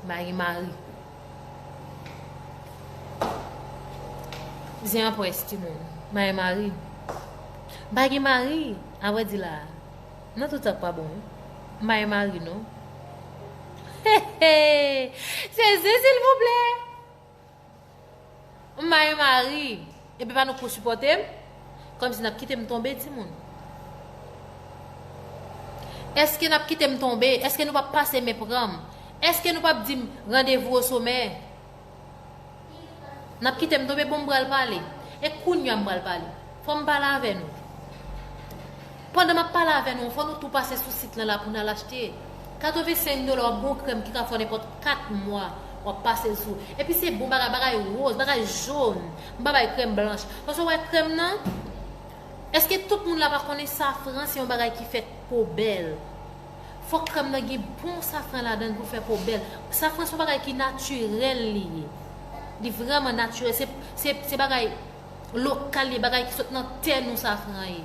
Baye mari. Zen an pwès ti moun. Baye mari. Baye mari. Avè di la. Nan tout sa k pa bon. Baye mari non. He he. Se zen silvouplè. M ba yon mari epi pa nou ko sipòte m Kòmsi nap kite m tonbe timoun Èske nap kite m tonbe Èske nou pap pase men pran m Èske nou pap di m randevou o somè Nap kite m tonbe bon m pral pale E kounya m pral pale Fò m pale avè nou Pandan map pale avè nou an fò nou tou pase sou sit lan la pou nal achte 85 dola yon bon krèm ki ka fè w nenpòt 4 mwa wap pase l sou epi se bon bagay bagay rose bagay jaune m pa bay krèm blanch paske wè krèm nan eske tout moun la pa konnen safran se yon bagay ki fè po bèl fòk krèm nan gen bon safran ladan l pou l fè po bèl safran se yon bagay ki natirèl li ye li vrèman natirèl se bagay lokal ye bagay ki sot nan tè nou safran ye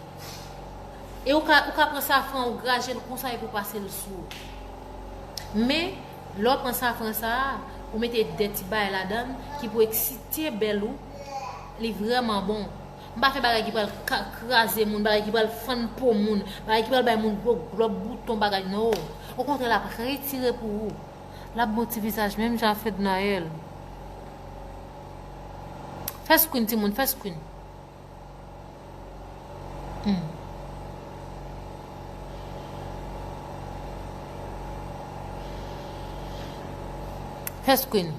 e ou ka ou ka pran safran ou graje l konsa epi ou pase l sou men lè ou pran safran sa a ou mete de ti bay ladan ki pou eksite bèl ou li vrèman bon m pa fè bagay ki pral kraze moun bagay ki pral fann po moun bagay ki pral bay moun gwo glòb bouton bagay no okontrè l ap retire pou ou Lap bon ti vizaj menm jan a fednaelle. Fè screen ti moun fè screen. Humm. Fè screen.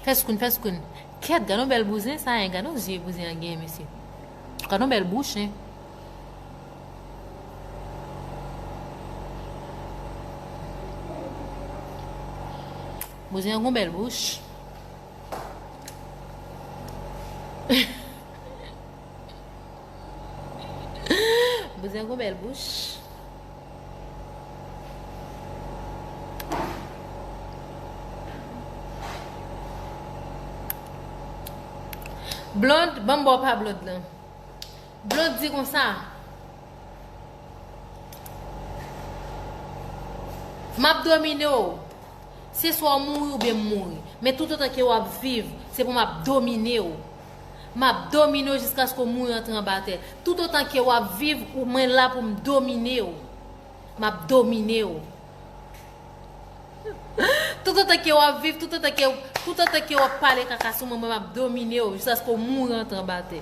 Fè screen fè screen. Kèt gadon bèl bouzen sa hein gadon zye bouzen an gen mesye. Gadon bèl bouch hein. Bouzen an gon bèl bouch. Bouzen an gon bèl bouch. Blond, banm baw pa blond lan. Dlo di konsa. Map domine w. Se swa w mouri oubyen m mouri. Men toutotan ke wap viv, se pou map domine w. Map domine w jiskaske w mouri antre anba tè. Toutotan ke wap viv, mwen la pou m domine w. Map domine w. Tout otan ke wap viv, tout otan ke, tout otan ke wap pale kaka sou mwen mwen map domine w jiska sko mouri antre anba tè.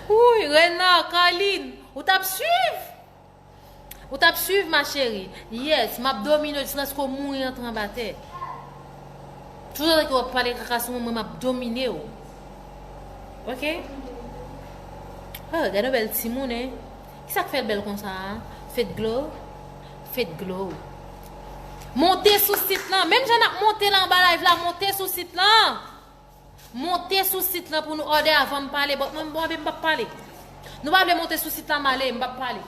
Wouyy Renard, Carline, ou tap swiv? Ou tap swiv ma chérie. Yes map domine jiskaske w mouri an tranbatè tout otan ke wap pale kaka sou mwen mwen map domine w ok oh gade yon bèl timoun hein kisak fèl bèl konsa a fedglo fedglo monte sou sit lan menm jan nap monte la anba live la monte sou sit lan Monte sou sit lan pou nou òdè avan m pale bòt mwen m bon anpi m pap pale. Nou pa vle monte sou sit la m ale m pap pale.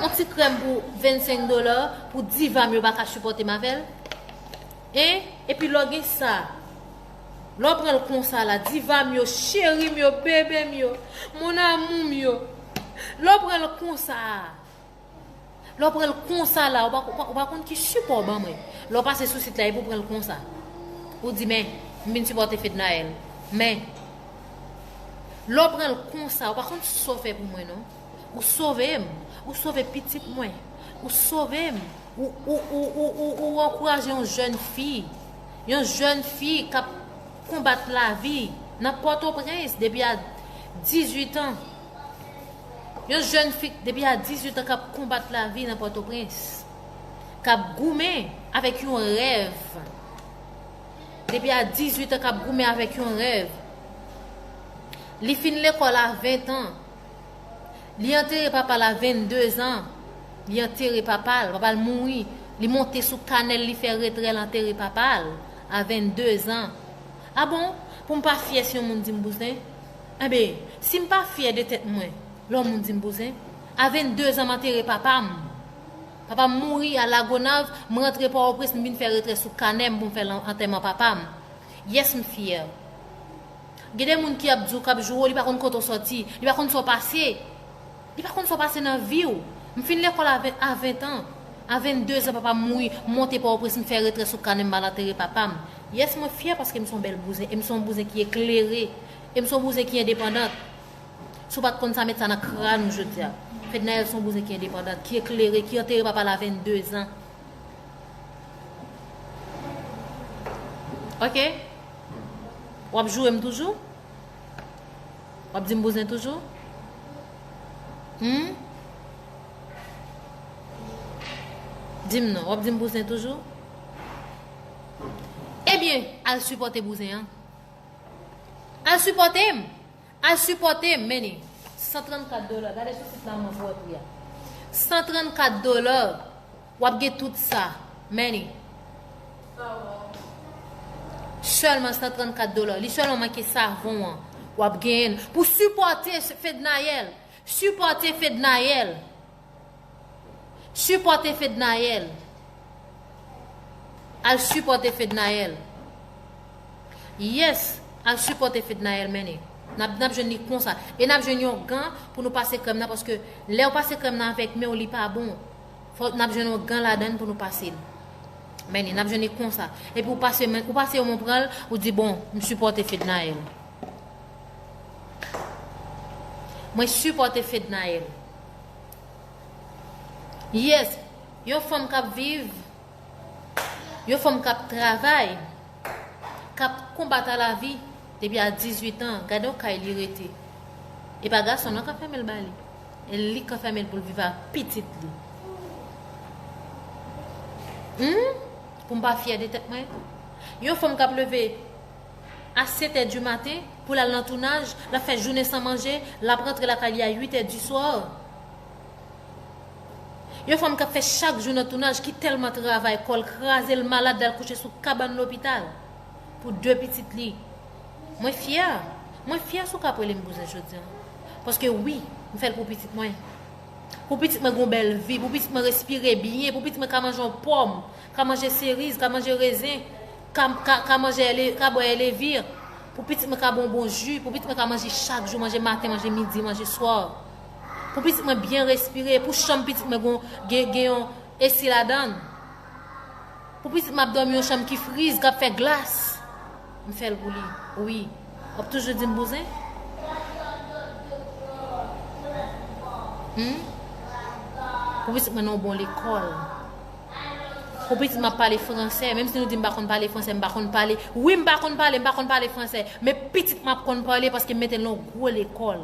On ti krèm pou 25 dola pou diva m yo pa ka sipòte m avè l. Hein epi lò gen sa lè w pran l konsa la diva m yo cheri m yo bebe m yo mon amour m yo lè w pran l konsa a. Lè w pran l konsa la, ou pa konn ki sipò w ban mwen. Lè w pase sou sit la epi w pran l konsa. Ou di men, m vin sipòte Fednaelle. Men, lè w pran l konsa, ou pa konn sa w fè pou mwen non. Ou sove m. Ou sove pitit mwen. Ou sove m. Ou ankouraje yon jèn fi. Yon jèn fi k ap konbat lavi nan Pòtoprens depi a 18 an. Yon jèn fi depi a 18 an kap konbat lavi nan Pòtoprens. Kap goumen avèk yon rèv. Depi a 18 an kap goumen avèk yon rèv. Li fin lekòl a 20 an. Li antere papa la 22 an. Li antere papa l. Papa l mouri. Li monte sou kanèl li fè retrè l antere papa l a 22 an. A bon, pou m pa fyè si yon moun di m bouzen? Enben, si m pa fyè de tèt mwen, lò moun di m bouzen, a 22 zan m antere papa m. Papa m mouri a Lagonav, m rantre Pòwoprens m vin fè retrè sou kanè m pou m fè antèman papa m. Yes m fyè. Gen de moun ki ap di w k ap joure w li pa konn kote w sòti, li pa konn sa w pase. Li pa konn sa w pase nan vi w. M fin lekòl a 20 a 20 an. A 22 zan papa m mouri, m monte Pòtoprens m fè retrè sou kanè m m al antere papa m. Yès mwen fyè paske m s on bèl bouzen e m s on bouzen ki eklere e m s on bouzen ki endepandant. Si w pa t konn sa met sa nan kràn ou jodi a. Fednaelle s on bouzen ki endepandant, ki eklere, ki antere papa l a 22 zan. Ok? W ap joure m toujou? Wap dim bouzen toujou? Humm. Dim non, wap dim bouzen toujou? Ebyen, al sipòte bouzen an. Al sipòte m! Al sipòte m, meni. 134 dola, gade sou sit la anvan pou wè pri a. 134 dola! Wap gen tout sa. Manny. Selman 134 dollars. Li selman manke savon an. Wap genyen. Pou sipote Fednaelle. Sipote Fednaelle. Sipote Fednaelle. Al sipote Fednaelle. Yes. Al sipote Fednaelle Manny. Nap nap jwenn li konsa. E nap jwenn yon gan pou nou pase krem nan. Paske lew pase krem nan avek menw li pa bon. Fòk nap jwenn yon gan ladann pou nou pase l. Men li, nap jwenn li konsa. Epi ou pase men, ou pase yon men ou pran l, ou di bon, m sipòte Fednaelle. Mwen sipòte Fednaelle. Yes, yon fanm kap viv, yon fanm kap travay, kap konbat a lavi depi a 18 an, gade yon kay li rete. E pa gason non kap fèmen l ba li. E li k anfème l pou l viv ak pitit li. Humm pou m pa fyè de tèt mwen. Yon fanm k ap leve a 7 è di maten pou l al nan tounaj, l ap fè jounen san manje, l ap rantre lakay li a 8 è di swa. Yon fanm k ap fè chak jou nan tounaj ki tèlman travay kò l kraze l malad l al kouche sou kabann lopital. Pou de pitit li. Mwen fyè. Mwen fyè si w ka ap rele m bouzen jodi an. Paske wi, m fè l pou pitit mwen. Pou pitit mwen gen yon bèl vi, pou pitit mwen respire byen, pou pitit mwen ka manje yon pòm, ka manje seriz, ka manje rezen, ka manje ka bwè elevir, pou pitit mwen ka bwè yon bon ji, pou pitit mwen ka manje chak jou, manje maten, manje midi, manje swa. Pou pitit mwen byen respire, pou chanm pitit mwen gen yon esi ladan l. Pou pitit m ap dòmi yon chanm ki friz, k ap fè glas. M fè l pou li. Wi. W ap toujou di m bouzen? Hum? Pou pitit mwen nan yon bon lekòl. Pou pitit m ap pale franse, menm si nou di m pa konn pale franse, m pa konn pale. Wi, m pa konn pale, m pa konn pale franse. Men pitit m ap konn pale paske m mete l nan yon gwo lekòl.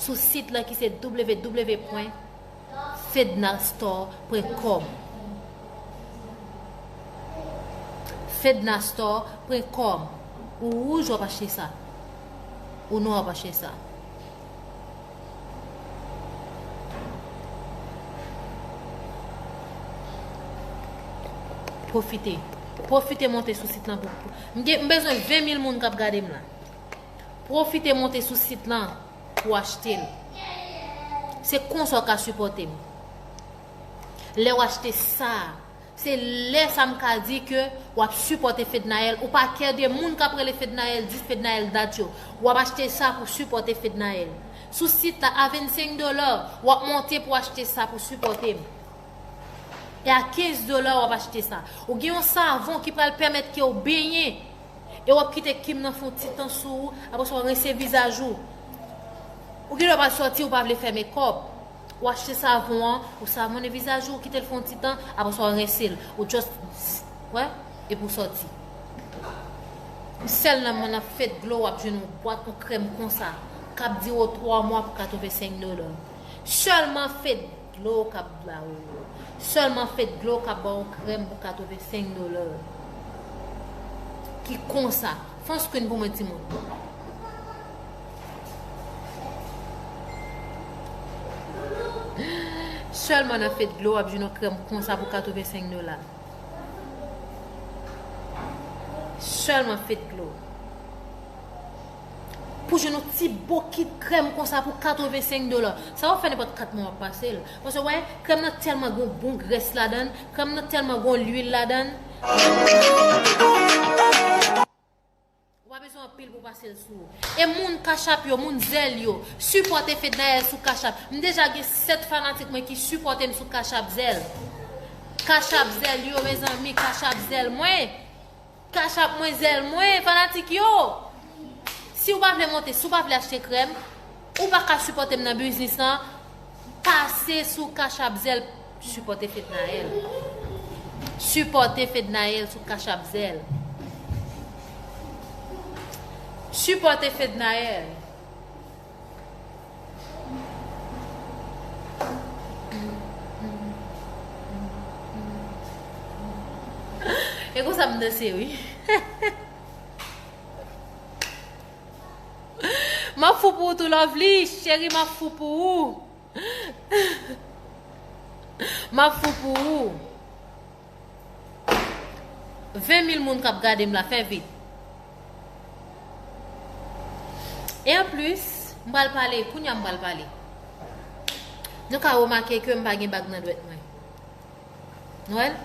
sou sit lan ki se www.fednastore.com fednastore.com ou wouj wap achte sa ou nwa wap achte sa pwofite pwofite monte sou sit lan m bezwen 20 mil moun kap gade m la Pwofite monte sou sit lan pou w achte l. Se konsa w ka sipòte m. Lè w achte sa, se lè sa m ka di ke w ap sipòte Fednaelle. Ou pa kè de moun k ap rele Fednaelle, di Fednaelle dat yo. W ap achte sa pou sipòte Fednaelle. Sou sit la, a 25 dola, w ap monte pou achte sa pou sipòte m. E a 15 dola w ap achte sa. Ou gen yon savon ki pral pèmèt ke w benyen. E wap kite Kim nan fon ti tan sou ou apre sa wap rense vizaj ou Ou gen dwa pral sòti ou pa vle fè mekòp Ou achte savon an ou savonnen vizaj ou ou kitel fon ti tan apre sa w rense l ou just bzzz wè epi w sòti Sèl nan nan Faith Glow wap jwenn yon bwat yon krèm konsa kap dire w 3 mwa pou 85 dollars sèlman Faith Dlo w kap ba ou yo. Selman fed dlo w kap baw krem pou 85 dollars ki konsa. Fon screen pou mwen ti moun. Selman nan fed dlo wap jwenn yon krem konsa pou 85 dollars. Selman fed dlo. Pou jwenn yon ti bokit krèm konsa pou 85 dola. Sa wap fè nenpòt 4 mwa wap pase l. Paske wè, krèm nan tèlman gen yon bon grès ladan l, krèm nan tèlman gen yon lwil ladan l, ou pa bezwen anpil pou pase l sou ou. E moun cash app yo, moun zelle yo, sipòte Fednaelle sou cash app. M deja gen 7 fanatik mwen ki sipòte m sou cash app zelle. Cash app zelle yo mezanmi, cash app zelle mwen. Cash app mwen zèl mwen fanatik yo siw pa vle monte si w pa vle achte krèm ou pa ka sipòtem nan biznis lan pase sou cash app zèl sipòte fednaelle sipòte fednaelle sou cash app zèl sipòte fednaelle. E konsa m danse wi. Map fou pou ou tou lovely, cheri map fou pou ou. Map fou pou ou. 20 mil moun kap gadem la fè vit. E an plus, m pral pale, kounya m pral pale. Nou ka remake ke m pa gen bag nan dwèt mwen. Nou wèl?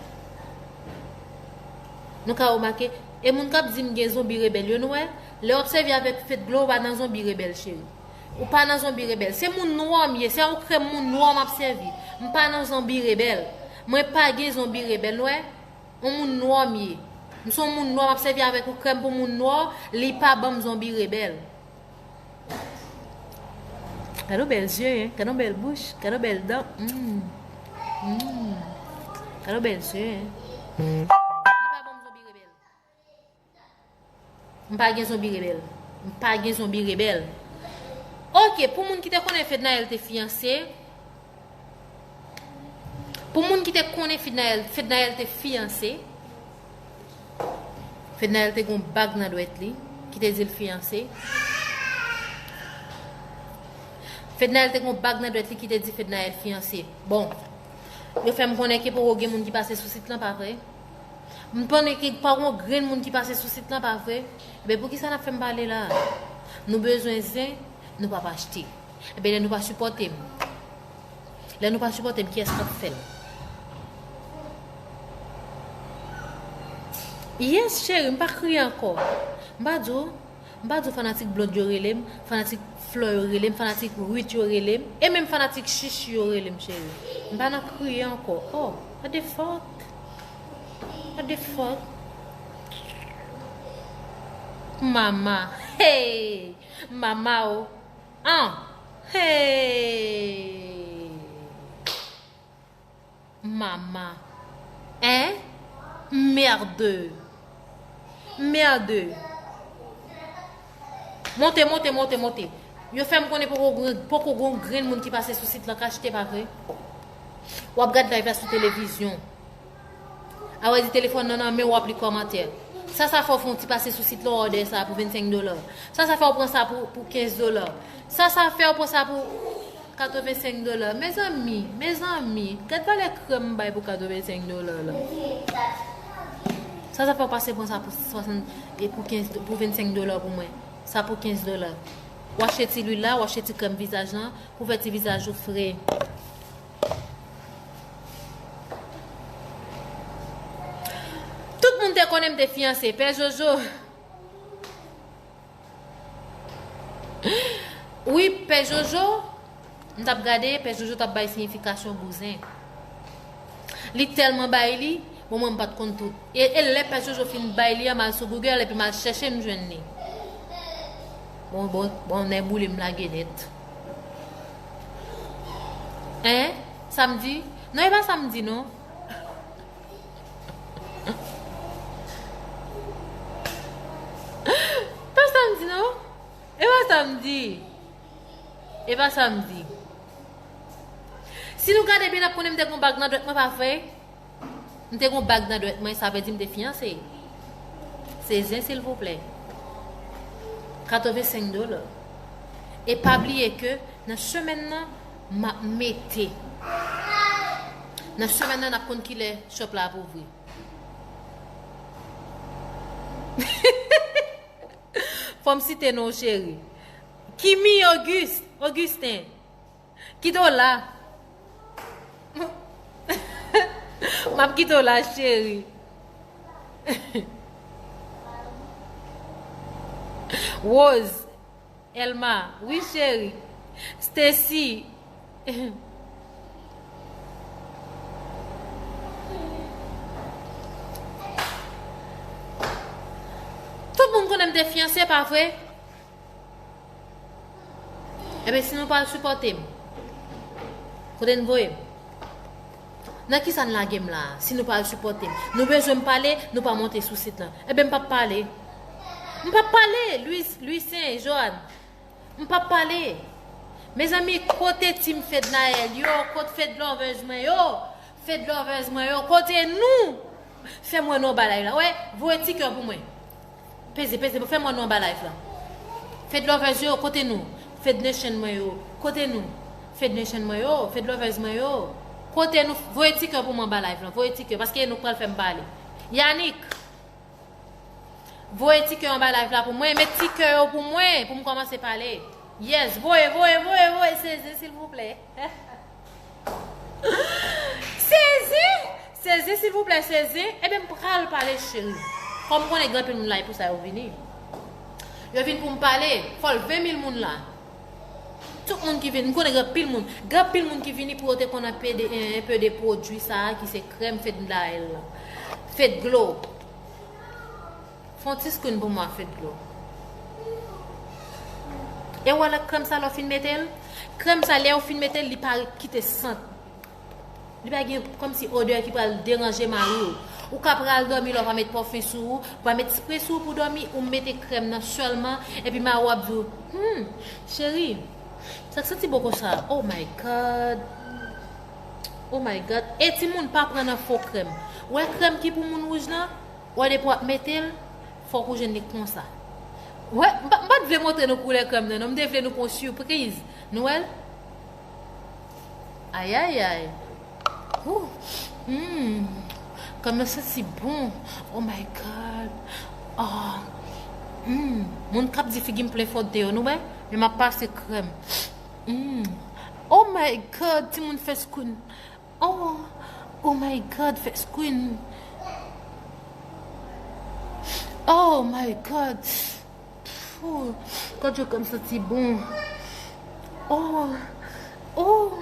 Nou ka remake, e moun kap di m gen zonbi rebèl yo nou wè? Lè wap sèvi avèk fedglo ou pa nan zonbi rebèl cheri. Ou pa nan zonbi rebèl. Se moun nwa m ye, se yon krèm moun nwa map sèvi. M pa nan zonbi rebèl. Mwen pa gen zonbi rebèl nou wè. Yon moun nwa m ye. M son moun nwa map sèvi avèk yon krèm pou moun nwa, li pa banm zonbi rebèl. Gadon bèl zye hein, gadon bèl bouch, gadon bèl dan humm humm gadon bèl zye hein. M pa gen zonbi rebèl. M pa gen zonbi rebèl. Ok, pou moun ki te konnen Fednaelle te fiyanse. Pou moun ki te konnen Fednaelle, Fednaelle te fiyanse. Fednaelle te gon bag nan dwèt li ki te dil fiyanse. Fednaelle te gon bag nan dwèt li ki te di Fednaelle fiyanse. Bon, yo fè m konnen ke poko gen moun ki pase sou sit lan, pa vre? M konnen ke pa gon grenn moun ki pase sou sit lan pa vre? Ebyen poukisa nap fèm pale la? Nou bezwen zen, nou pap achte. Ebyen lè nou pa sipòte m. Lè nou pa sipòte m kiyès kap fèl? Yes cheri m pa kriye ankò. M pa di w M pa di w fanatik Blonde yo rele m, fanatik Flore yo rele m, fanatik Ruth yo rele m, e menm fanatik Shushie yo rele m cheri. M pa nan kriye ankò. Oh! What the fuck? What the fuck? Mama! Hey! Mama o! An! Hey! Mama. Hein? Mmerdeuu. Mmerdeuu. Monte, monte, monte, monte. Yo fèm konnen poko gwen, poko gwen grenn moun ki pase sou sit lan ka chete pa vre? Wap gad live la sou televizyon. A wè di telefòn nan nan menw wap li kòmantè. Sa sa fè w fè yon ti pase sou sit lan w òdè sa pou 25 dola? Sa sa fè w pran sa pou 15 dola? Sa sa fè w pran sa pou. 85 dollars mezanmi mezanmi gad valè krèm m bay pou 85 dollars la sa sa fè w pase pran sa pou 60 e pou 15 pou 25 dollars pou mwen sa pou 15 dollars w achte ti lwil la w achte ti krèm vizaj lan pou fè ti vizaj ou fre. Tout moun te konnen m te fiyanse pè jojo. Wi pè jojo m tap gade pè jojo tap bay siyifikasyon bouzen li telman bay li bon mwen m pat konn tout e lè pè jojo fin bay li a mal sou google epi mal chèche m jwenn li bon bon bon nè boule m lage nèt en samdi non e pa samdi non Pa sa m di non E pa sa m di E pa sa m di Si nou gade byen n ap konnen m te gen yon bag nan dwèt mwen pa vre M te gen yon bag nan dwèt mwen sa vle di m te fiyanse Se zen silvouplè 85 dola E pa bliye ke nan semèn nan Map mete Nan semèn nan nap konn kilè shop la ap ouvri Fòm site non w cheri Kimi Auguste Augustin Kite w la Map kite w la cheri Rose. Elma, Wi cheri. Stacy, Tout moun konnen m te fyanse pa vre? Ebyen si nou pral sipòte m, kote n voye m? Nan kisa n lage m la a si nou pa al sipòte m? Nou bezwen m pale, nou pa monte sou sit lan. Enben m p ap pale. M p ap pale! Louise, Louissaint, Johanne. M p ap pale! Mezanmi, kote team Fednaelle yo? Kot Fedlovers mwen yo? Fedlovers mwen yo, kote nou? Fè m wè nou anba live la. Wè, voye ti kè pou mwen. Peze peze pou fè mwen nou anba live lan Fedlovers yo kote nou Fednation mwen yo kote nou Fednation mwen yo Fedlovers mwen yo kote nou voye ti kè pou mwen anba live lan voye ti kè paske Enock pral fèm pale Yanick voye ti kè anba live la pou mwen met ti kè yo pou mwen poum kòmanse pale yes voye voye voye voye seze silvouplè. Sezi! Sezi silvouplè sezi Ebyen m pral pale cheri Kòm m konnen gen anpil moun la e pou sa yo vini Yo vin pou m pale Fò l 20 mil moun la Tout moun ki vin M konnen gen anpil moun Gen anpil moun ki vini pou yo te konn anpe de enpe de pwodui sa a ki se krèm fetndail la Fetglo Fon ti screen pou mwen fed dlo. Ew wèl ak krèm sa lèw fin metel? Krèm sa lèw fin metel li pa kite sant. Li pa gen kòm si odè ki pral deranje mariw. Ou ka pral dòmi la ou pa met pòfen sou ou, ou pa met spray sou ou pou dòmi, ou mete krèm nan sèlman epi mariw ap diw, Humm cheri, sak santi bon konsa? Oh my God! Oh my God! E timoun pa pran nan fo krèm. Wè krèm ki pou moun wouj lan? Wè depi wap metel fok ou jwenn li konsa wè m pat vle montre nou koulè krèm nan non m te vle nou pran yon surpriz nou wèl ayayay ooh humm krèm nan santi bon oh my god ahh humm moun kap di figim plen fòt deyò nou wè men map pase krèm humm oh my god timoun fè skounn. Ohh oh my God first queen ohh my God ooh God yo kèm santi bon ohh ooh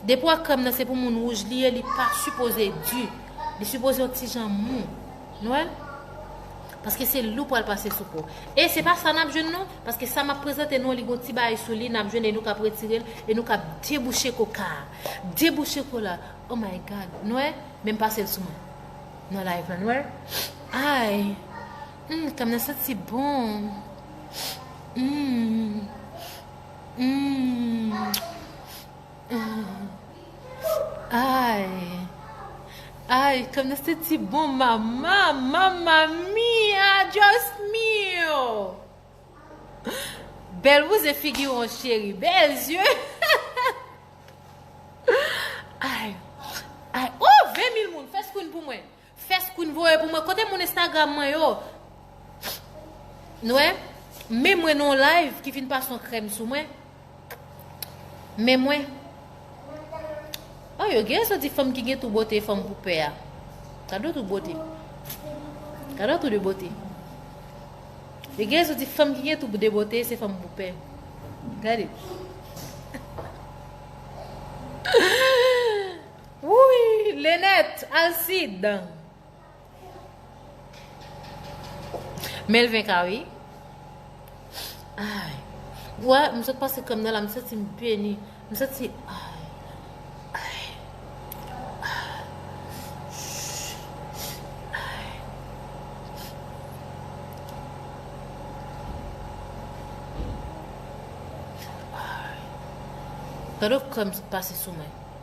depi wè krèm nan se pou moun wouj li ye li pa sipoze di li sipoze yon ti jan mou nou wè paske se li ou pral pase sou po e se pa sa nap jwenn non paske sa map prezante nou an li gon ti bagay sou li nap jwenn e nou kap retirel e nou kap debouche koka a. 2 bout chokola oh my God nwè menm pasel sou mwen nan live la nwè ayy humm kèm nan santi bon humm humm humm ayy ayy kèm nan santi bon mama mama mia Dios mio. Bel bouzen figiron cheri bel yeux Ay Ay oh 20 mil moun fè screen pou mwen Fè screen voye pou mwen kote moun Instagram mwen yo Nou wè Men mwen nan yon live ki fin pase yon krèm sou mwen Men mwen. Oh yo gen soti fanm ki gen tou bote fanm pou pè a. Kado tou bote. Kado tou de bote. Yo gen soti fanm ki gen tou de bote se fanm pou pè. Gade. Wouy, Lenèt, Alcide. Melvin ka wi. Ay. Wè, m sot pase krèm nan la, m santi m beni. M santi ay. Ay. Ay. Ay. Ay. Gade w krèm sot pase sou mwen.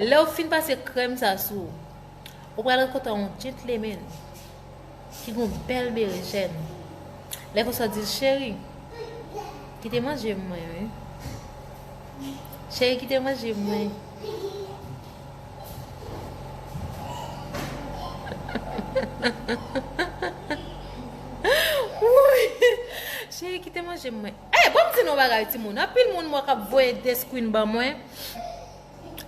Lèw fin pase krèm sa sou, ou pral rankontre yon gentleman ki gon bèl berejèn. Lè konsa di l, cheri, kite manje mwen wi. Cheri kite manje mwen. Cheri kite manje mwen. Hey banm di nou yon bagay ti moun anpil moun mwen kap voye de screen ban mwen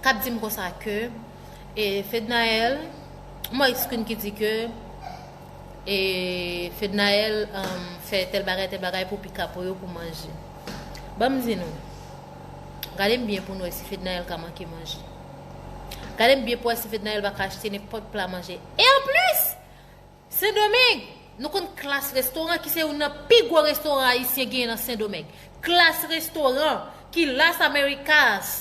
kap dim konsa ke e fednaelle m wè screen ki di ke e fednaelle um, fè tel bagay tel bagay pou pikapo yo pou manje banm di nou gade m byen pou nou wè si fednaelle ka manke manje gade m byen pou wè si fednaelle pa ka achte nenpòt pla manje e anplis Sendomeng! Nou konn Klass Restaurant ki se youn nan pi gwo restoran ayisyen genyen nan Sendomeng. Klass Restaurant ki Las Americas.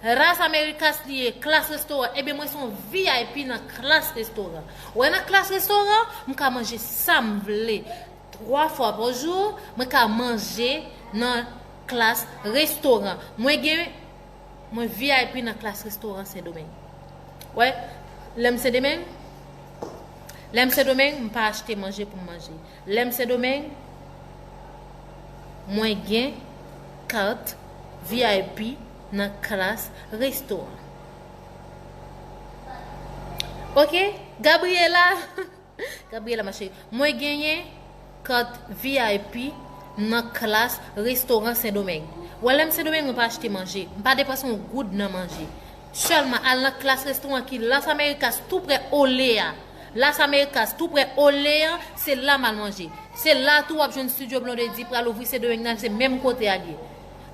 Las Americas li ye, Klass Restaurant. Ebyen mwen son vip nan Klass Restaurant. Wè nan Klass Restaurant, m ka manje sa m vle. 3 fwa pa jou, mwen ka manje nan Klass Restaurant. Mwen gen Mwen vip nan klas restoran sendomeng wè lèm sendomeng lèm sendomeng m pa achte manje pou m manje lèm sendomeng mwen gen kat vip nan klas restoran ok Gabriela Gabriela ma chérie mwen genyen Kat vip nan klass restoran sendomeng wè lèm sendomeng mwen pa achte manje mpa depanse yon goud nan manje sèlman al nan klass restoran ki las amerikas tou prè ole a las amerikas tou prè ole an se la mal manje se la tou wap jwenn studio blondedy pral ouvri sendomeng nan se menm kote a liye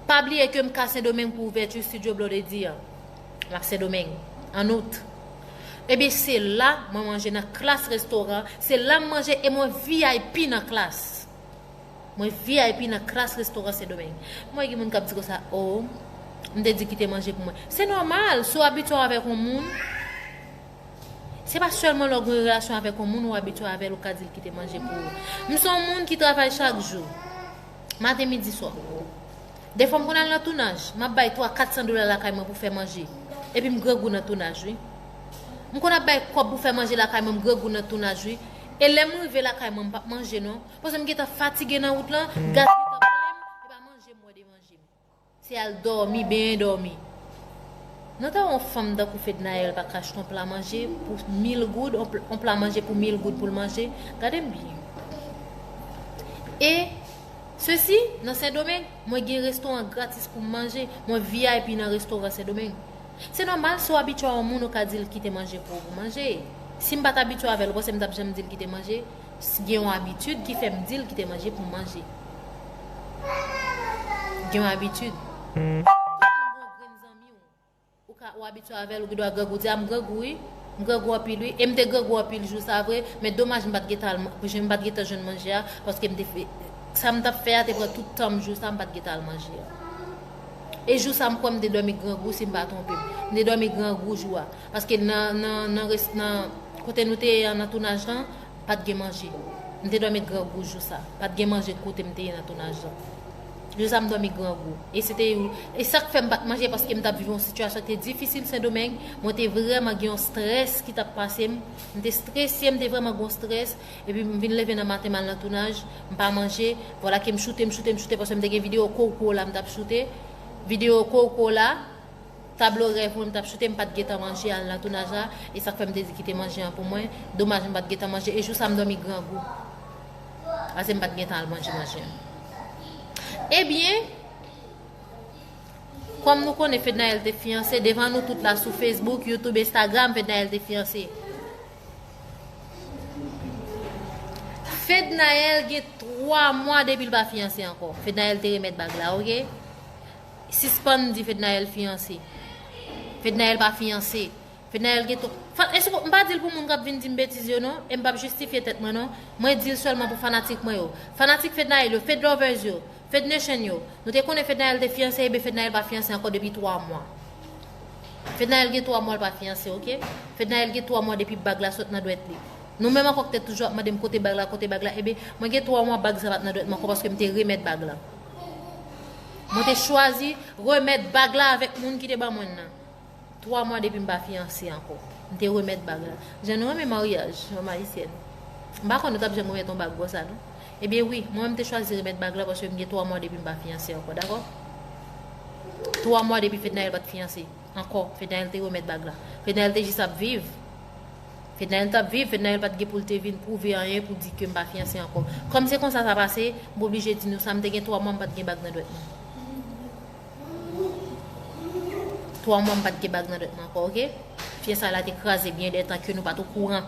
pa bliye kem ka sendomeng pou ouvèti studio blondedy an. La Sendomeng, an Out. Ebyen se la mwen manje nan Klass Restaurant, se la m manje e mwen vip nan Klass. Mwen vip nan Klass Restaurant Sendomeng. M wè gen moun k ap di konsa, oh, m te di kite manje pou mwen. Se nòmal, si w abitye w avèk yon moun, se pa sèlman lè w gen yon relasyon avèk yon moun ou abitye w avè l ou ka di l kite manje pou ou. M se yon moun ki travay chak jou, maten, midi, swa. Defwa m konn al nan tounaj, m ap bay 3 400 dola lakay mwen pou fè manje, epi m grangou nan tounaj wi. M konn ap bay kòb pou fè manje lakay mwen m grangou nan tounaj wi, e lè m rive lakay mwen m p ap manje non, paske m gentan fatige nan wout lan, gaz gentan plen m, e pa manje m wè devan je m. Se al dòmi, benyen dòmi. Nou ta wè yon fanm tankou Fednaelle pa k achte yon pla manje pou 1000 goud, yon pla manje pou 1000 goud pou l manje, gade m byen. E. Sesi, nan Sendomeng, mwen gen restoran gratis pou m manje, mwen vip nan restoran Sendomeng. Se nòmal si w abitye a yon moun ou ka di l kite manje pou ou pou manje. Si m pa t abitye avè l, ou panse m t ap janm di l kite manje? Gen yon abitid ki fè m di l kite manje pou m manje. Gen yon abitid. Tout moun gon grenn zanmi w. Ou ka ou abitye avèl ou gendwa grangou di a m grangou wi m grangou anpil wi e m te grangou anpil jou sa vre men domaj m pat gen tan m pat gen tan jwenn manje a paske m te fè sa m tap fè a te pran tout tan m jou sa m pat gen tan al manje a e jou sa m kwè m te dòmi grangou si m pa twonpe m m te dòmi grangou jou a paske nan nan nan rès nan kote nou te ye an nan tounaj lan pat gen manje m te dòmi grangou jou sa pat gen manje kote m te ye nan tounaj lan. Joza m dòmi grangou e se te yon e sak fèm pat manje paske m tap viv yon sitiyasyon ki te difisil sendomeng mwen te vrèman gen yon strès ki tap pase m m te strese m te vrèman gen yon strès epi m vin leve nan maten mal nan tounaj m pa manje vwala ke m choute m choute m choute paske m te gen videyo kowkwola m tap choute videyo kowkwola tablo rèv mwen m tap choute m pat gentan manje al nan tounaj la e sak fè m te di kite manje an pou mwen domaj m pat gentan manje e jou sa m dòmi grangou. Ase m pat gen tan al manje manje an. Ebyen, kòm nou konnen Fednaelle te fiyanse, devan nou tout la sou Facebook, Youtube, Instagram, Fednaelle te fiyanse. Fednaelle gen 3 mwa depi l pa fiyanse ankò. Fednaelle te remèt bag la, ok? Sispann di Fednaelle fiyanse. Fednaelle pa fiyanse. Fednaelle gen to. Fat e souko, m pa dil pou moun kap vin dim betiz yo non, em pap jistifye tèt mwen non, mwen dil sèlman pou fanatik mwen yo, fanatik Fednaelle yo, Fedlovers yo, Fednation yo, nou te konnen Fednaelle te fiyanse eben Fednaelle pa fiyanse ankò depi 3 mwa. Fednaelle gen 3 mwa l pa fiyanse ok, Fednaelle gen 3 mwa depi bag la sot nan dwèt li. Nou menm ankò k te toujou ap mandem kote bag la, kote bag la, eben mwen gen 3 mwa bag sa pat nan dwèt mwen ankò paske m te remèt bag la. Mwen te chwazi remèt bag la avèk moun ki te ban mwen l nan. 3 mwa depi m pa fiyanse ankò. M te remèt bag la. Jan nou renmen maryaj, fanm ayisyèn. M pa konn nou t ap janm remèt yon bag konsa non. Ebyen wi, mwen menm m te chwazi remèt bag la paske m gen 3 mwa depi m pa fiyanse ankò, dakò? 3 mwa depi Fednaelle pa t fiyanse ankò, Fednaelle te remèt bag la. Fednaelle te jis ap viv. Fednaelle t ap viv, Fednaelle pa t gen pou l te vin pwouve anyen pou di ke m pa fiyanse ankò. Kòm se konsa sa pase, m oblije di nou sa, m te gen 3 mwa m pa t gen bag nan dwèt mwen. 3 mwa m pat gen bag nan dent mwen ankò ok fye sa la te kraze byen de tan ke nou pat okouran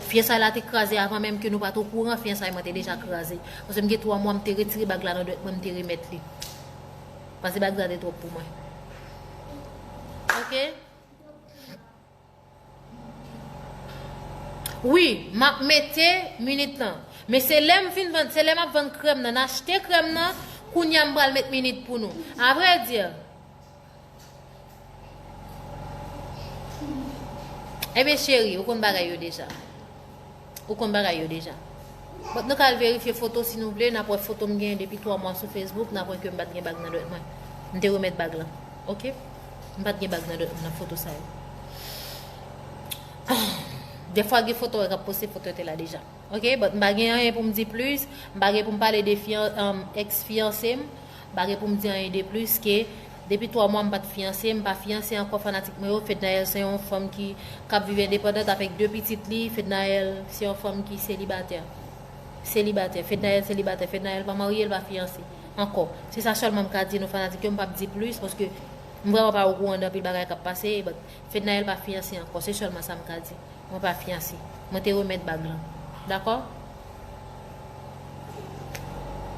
fye sa la te kraze avan menm ke nou pat okouran fye sa mwen te deja kraze pase m gen 3 mwa m te retire bag la nan dent mwen m te remèt li pase bag la te twòp pou mwen ok. Wi map mete minit lan. Men se lèm fin vann se lè map vann krèm nan achte krèm nan kounya m pral met minit pou nou. A vrai dire Ebyen cheri ou konn bagay yo deja. Ou konn bagay yo deja. But nou ka al verifye foto si nou vle, nap wè foto m genyen depi 3 mwa sou Facebook, nap wè ke m pat gen bag nan dwèt mwen. M te remèt bag lan. Ok? M pat gen bag nan dwèt mwen nan foto sa yo. Defwa gen foto wè kap poste foto yo te la deja. Ok? But m pa gen anyen pou m di plis, m pa gen pou m pale de ex fiyanse m. M pa gen poum di anyen de plis ke depi 3 mwa m pat fiyanse, m pa fiyanse ankò fanatik mwen yo, Fednaelle se yon fanm ki kap viv endepandant avèk 2 pitit li, Fednaelle se yon fanm ki selibatè. Selibatè, Fednaelle selibatè, Fednaelle pa marye, l pa fiyanse. Ankò. Se sa sèlman m ka di nou fanatik yo, m pap di plis paske m vrèman pa okouran de anpil bagay kap pase, but Fednaelle pa fiyanse ankò, se sèlman sa m ka di. Mwen pa fiyanse. Mwen te remèt bag lan. Dakò?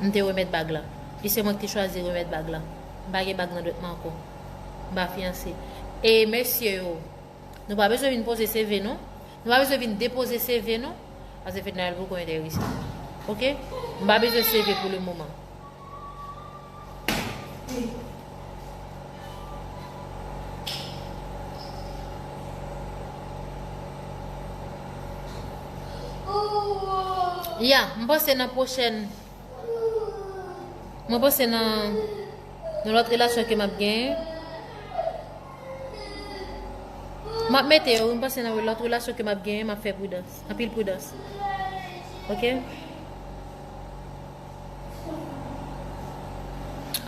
M te remèt bag lan. E se mwen ki te chwazi remèt bag lan. M pa gen bag nan dwèt mwen ankò. M pa fiyanse. E mesye yo, nou pa bezwen vin poze CV nou. Nou pa bezwen vin depoze CV nou. Pase Fednaelle poko enterese. Ok? M pa bezwen CV pou lemoman. Ya, mwen panse nan pwochèn Mwen panse nan Nan lòt relasyon ke m ap gen M ap mete yo, mwen panse nan lòt relasyon ke m ap gen M ap fè pwidans, anpil pwidans Ok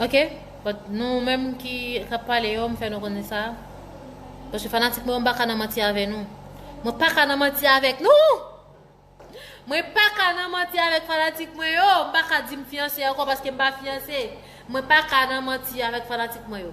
Ok but nou menm ki kap pale yo m fè nou konnen sa Paske fanatik mwen yo m pa ka nan manti avè nou Mwen pa ka nan manti avèk nou Mwen pa ka nan manti avèk fanatik mwen yo M pa ka di m fiyanse ankò paske m pa fiyanse Mwen pa ka nan manti avèk fanatik mwen yo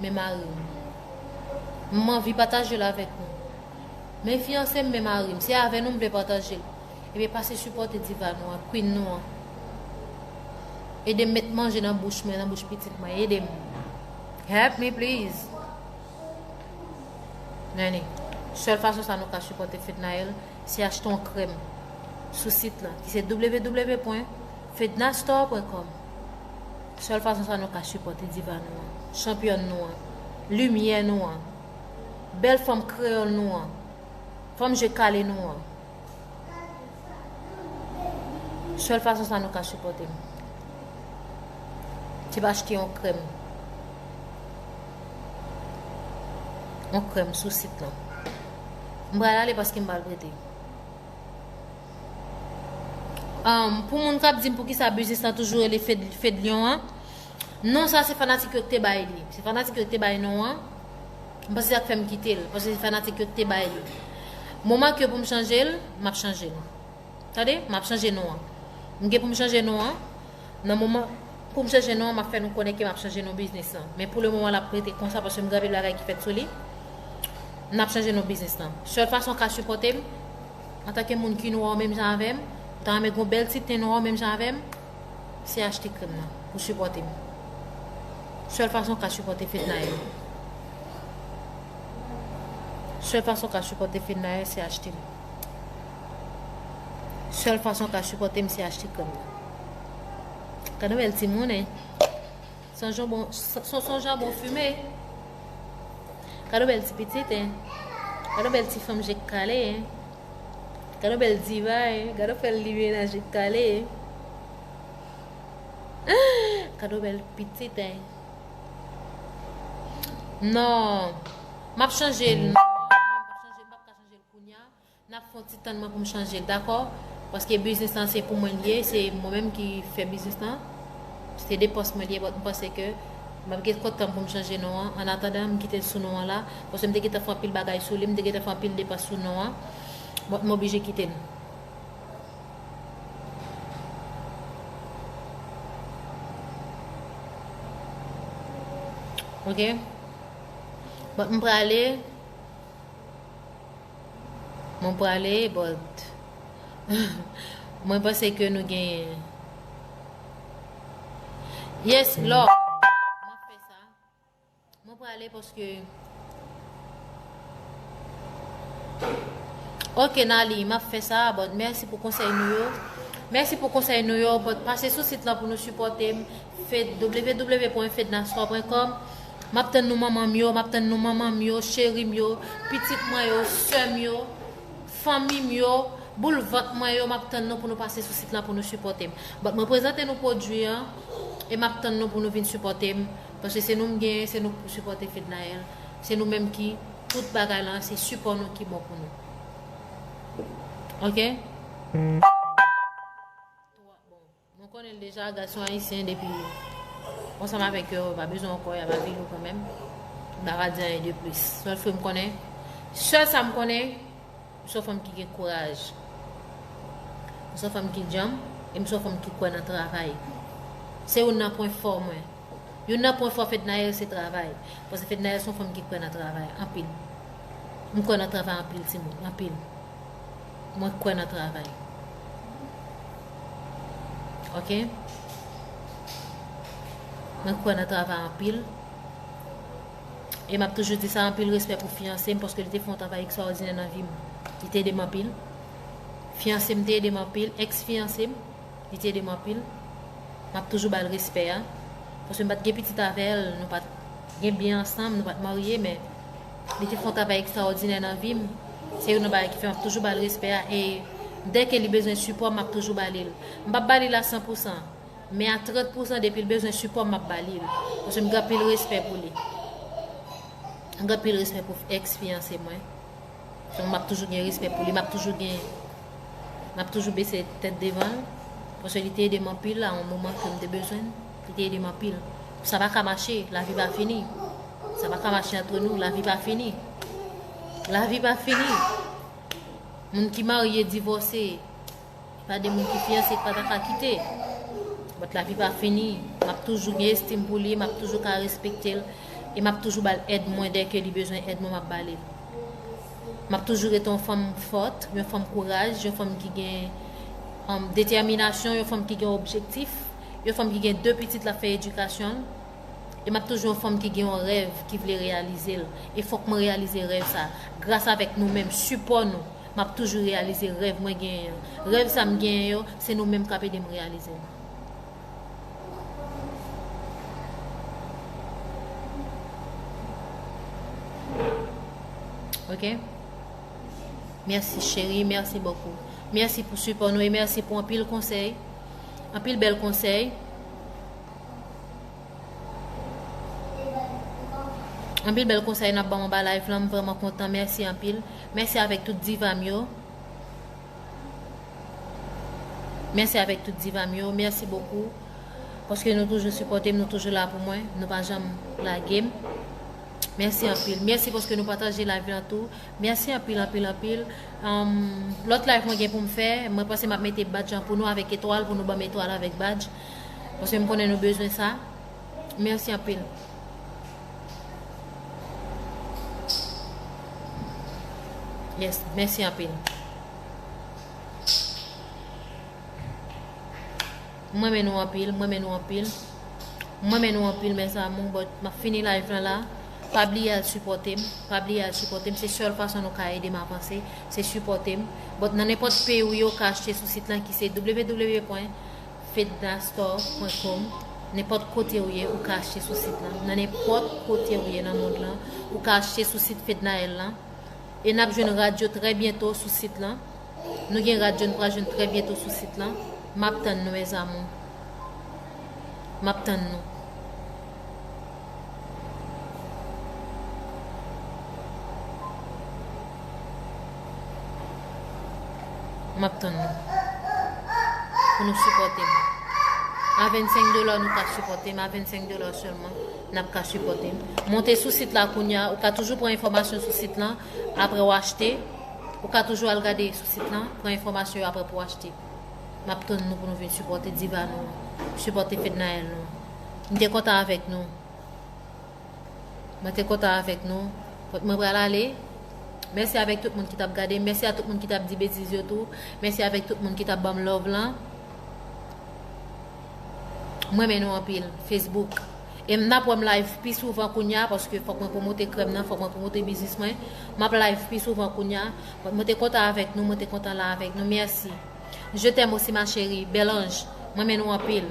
men mari m. M anvi pataje l avèk nou. Men fiyanse m men mari m. Se avè nou m vle pataje l. Ebyen pase sipòte diva nou an, Queen nou an. Ede m met manje nan bouch mwen, nan bouch pitit mwen. Ede m. Help me please. Nenny, sèl fason sa nou ka sipòte Fednaelle se achte yon krèm sou sit lan ki se www.fednastore.com. Sèl fason sa nou ka sipòte diva nou an, chanpyòn nou an, limyè nou an, bèl fanm kreyòl nou an, fanm je kale nou an. Sèl fason sa nou ka sipòte m. Se pa achte yon krèm. Yon krèm sou sit lan. M pral ale paske m pral prete. Pou moun kap dim poukisa biznis lan toujou rele Fedlion an Non sa se fanatik yo ki te bay li Se fanatik yo ki te bay non an M panse se sak fèm kite l Paske se fanatik yo ki te bay li Moman ke pou m chanje l Map chanje l Tande map chanje non an M gen pou m chanje non an Nan moman pou m chanje non an map fè nou konnen ke map chanje non biznis lan Men pou le moman lap rete konsa paske m gen anpil bagay ki fèt sou li Nap chanje non biznis lan Sèl fason ka sipòte m Antanke moun ki nwa w menm jan avèm, ou ta renmen gen yon bèl ti ten nwa w menm jan avèm, se achte krèm nan pou sipòte m. Sèl fason w ka sipòte Fednaelle. Sèl fason w ka sipòte Fednaelle se achte m. Sèl fason w ka sipòte m se achte krèm nan. Gade yon bèl ti moun, hein. Son jambon, son son jambon fume. Kado bel ti pitit hein. Kado bel ti fanm jek kale hein. Kado bel diva hein. Kado fel li menaj jek kale hein. Kado bel pitit hein. Non. Map chanje. Nap fon ti tann mwen poum chanje dakò paske biznis lan se pou mwen li ye se mwen menm ki fè biznis lan se de pòs mwen li ye but m panse ke map gen kont tanm poum chanje non an an atandan m kitel sou non an la paske m te gentan fè anpil bagay sou li m te gentan fè anpil depans sou non an but m oblije kitel. Ok but m prale. Mwen prale but Mwen panse ke nou genyen Yes love Mwen fè sa Mwen prale paske Ok Nali map fè sa but merci pou konsèy nou yo Merci pou konsèy nou yo but pase sou sit lan pou nou sipòtem www.fednastore.com Map tann nou manman m yo map tann nou manman m yo cheri m yo pitit mwen yo sè m yo fanmi m yo boul vant mwen yo map tann nou pou nou pase sou sit lan pou nou sipòte m but mwen prezante nou pwodwi an e map tann nou pou nou vin sipòte m paske se nou m genyen se nou k pou sipòte Fednaelle se nou menm ki tout bagay lan se sipò nou ki bon pou nou ok. Nou konnen deja gason ayisyen depi ansanm avèk yo pa bezwen ankò yap avi nou kanmenm m pa va di anyen de plis sèl fè m konnen sèl sa m konnen m son fanm ki gen kouraj m son fanm ki djanm e m son fanm ki kwè nan travay se youn nan pwen fò mwen youn nan pwen fò Fednaelle se travay paske Fednaelle son fanm ki kwè nan travay anpil m kwè nan travay anpil timoun anpil. Mwen kwè nan travay. Ok. Mwen kwè nan travay anpil. E map toujou di sa anpil respè pou fiyanse m paske li te fon travay ekstraòdinè nan vi m. Li te ede m anpil. Fiyanse m te ede m anpil. Ex fiyanse m. Li te ede m anpil. Map toujou bal respè a. Paske m pat gen pitit avèl. Nou pat gen byen ansanm. Nou pat marye men. Li te fè yon travay ekstraòdinè nan vi m. Se youn nan bagay ki fè m ap toujou ba l respè a e dè ke li bezwen sipò m, m ap toujou ba li l. M pa p ba li l a san pou san, men a trant pou san depi l bezwen sipò m, m ap ba li l. Paske m gen anpil respè pou li. M gen anpil respè pou èks fiyanse mwen. Donk m ap toujou gen respè pou li. M ap toujou gen, m ap toujou bese tèt devan l. Paske li te ede m anpil a yon moman ke m te bezwen l. Li te ede m anpil. Sa pa ka mache, lavi pa fini. Sa pa ka mache antre nou, lavi pa fini. Lavi pa fini. Moun ki marye, divòse, e pa de moun ki fiyanse ki pa ta ka kite. Bòt lavi pa fini. M ap toujou gen estim pou li, m ap toujou ka respekte l, e m ap toujou ba l èd mwen dè ke li bezwen èd mwen m ap ba li l. M ap toujou rete yon fanm fòt, yon fanm kouraj, yon fanm ki gen detèminasyon, yon fanm ki gen objektif, yon fanm ki gen de pitit l ap fè edikasyon l. e map toujou yon fanm ki gen yon rèv ki vle reyalizel e fòk mwen reyalize rèv sa gras avèk nou menm sipò nou map toujou reyalize rèv mwen genyen yo rèv sa m genyen yo se nou menm kap edem reyalizel. Ok mèsi cheri mèsi bokou mèsi pou sipò nou e mèsi pou anpil konsèy anpil bèl konsèy. Anpil bèl konsèy nap banm anba live lan m vrèman kontan mèsi anpil mèsi avèk tout divam yo mèsi avèk tout divam yo mèsi bokou paske nou toujou sipòtem nou toujou la pou mwen nou pa janm lagem mèsi anpil mèsi paske nou pataje live lan tou mèsi anpil anpil anpil lòt live mwen gen poum fè mwen panse map mete badjan pou nou avèk etwal pou nou banm etwal avèk badj. Paske m konnen nou bezwen sa. Merci anpil. Yes merci anpil. M renmen nou anpil, m renmen nou anpil. M renmen nou anpil mes amour but map fini live lan la. Pa bliye al supporte m, pa bliye al supporte m, se seul fason nou ka ede m avanse, se supporte m. But nan nenpot peyi ou ye ou ka achte sou site lan ki se www. Fednastor.com Nenpòt kote ou ye ou ka achte sou sit lan. Nan nenpòt kote ou ye nan mond lan, ou ka achte sou sit Fednaelle lan. E n ap jwenn rad yo trè byento sou sit lan. Nou gen rad yo n pral jwenn trè byento sou sit lan. M ap tann nou mes amour. M ap tann nou. Map tann nou Pou nou sipote m A 25 dola nou ka sipote m A 25 dola selman Nap ka sipote m Monte sou sit la kounya Ou ka toujou pran enfomasyon sou sit lan Apre w achte Ou ka toujou al gade sou sit lan Pran enfomasyon yo apre pou w achte Map tann nou pou nou vin sipote diva nou Sipote fednaelle nou M te kontan avèk nou. Mwen te kontan avèk nou. Kot mwen pral ale? Mèsi avèk tout moun ki tap gade m. Mèsi a tout moun ki tap di betiz yo tou. Mèsi avèk tout moun ki tap banm love lan. M renmen nou anpil. Facebook. E m nap wè m live pi souvan kounya paske fòk mwen pwomote krèm nan, fòk mwen pwomote biznis mwen. M ap live pi souvan kounya. Kot mwen te kontan avèk nou, mwen te kontan la avèk nou. Mèsi. Je t'aime aussi ma chérie. Bèl anj. M renmen nou anpil.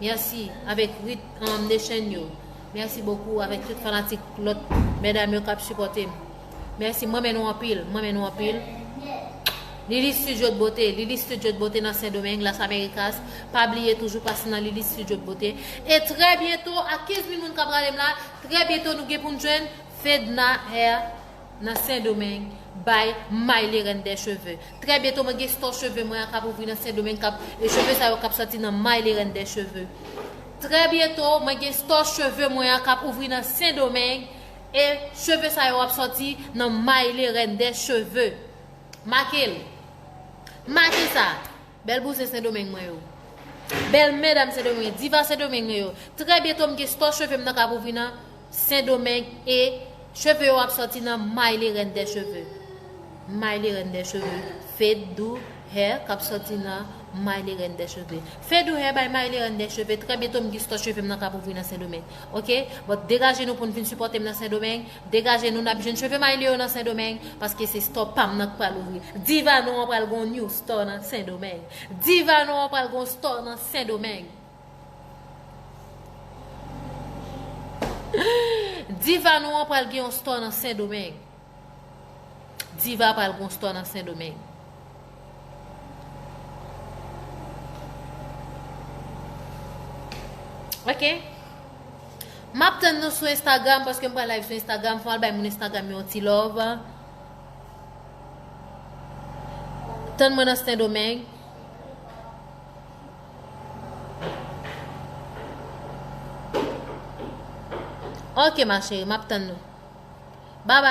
Merci avek rit um nation yo. Merci beaucoup avek tout fanatik lot medam yo kap supote m. Merci m renmen nou anpil, m renmen nou anpil. Lili studio de beauté, Lili studio de beauté nan Sendomeng, Las Americas. Pa bliye toujou pase nan Lili studio de beauté. E tre byento ak 15000 moun kap gade m la, tre byento nou gen pou n jwenn Fedna Hair. nan sendomeng bay may li rèn dè cheve trè byento mwen gen stò cheve mwen an kap ouvri nan sendomeng kap e cheve sa yo kap sòti nan may li rèn dè cheve trè byento mwen gen stò cheve mwen an kap ouvri nan sendomeng e cheve sa yo ap sòti nan may li rèn dè cheve make l make sa Bèl bouzen sendomeng mwen yo. Bèl medam sendomeng diva sendomeng mwen yo. Trè byento m gen store cheve m nan kap ouvri nan sendomeng e cheve yo ap sòti nan Maile reine des cheveux. Maile reine des cheveux Fedou hair kap sòti nan Maile reine des cheveux. Fedou hair by Maile reine des cheveux trè byento m gen store cheve m nan kap ouvri nan sendomeng. Ok but degaje nou poun vin sipòte m nan sendomeng. Degaje nou nap jwenn cheve maylio yo nan sendomeng paske se store pam nan k pral ouvri diva nou an pral gon new store nan sendomeng diva nou an pral gon store nan sendomeng diva nou an pral gen yon store nan sendomeng diva pral gon store nan sendomeng. Ok Map tann nou sou Instagram paske m pral live sou Instagram fòm al bay moun Instagram yon ti love Tann mwen nan Sendomeng Ok ma chérie map tann nou Bye bye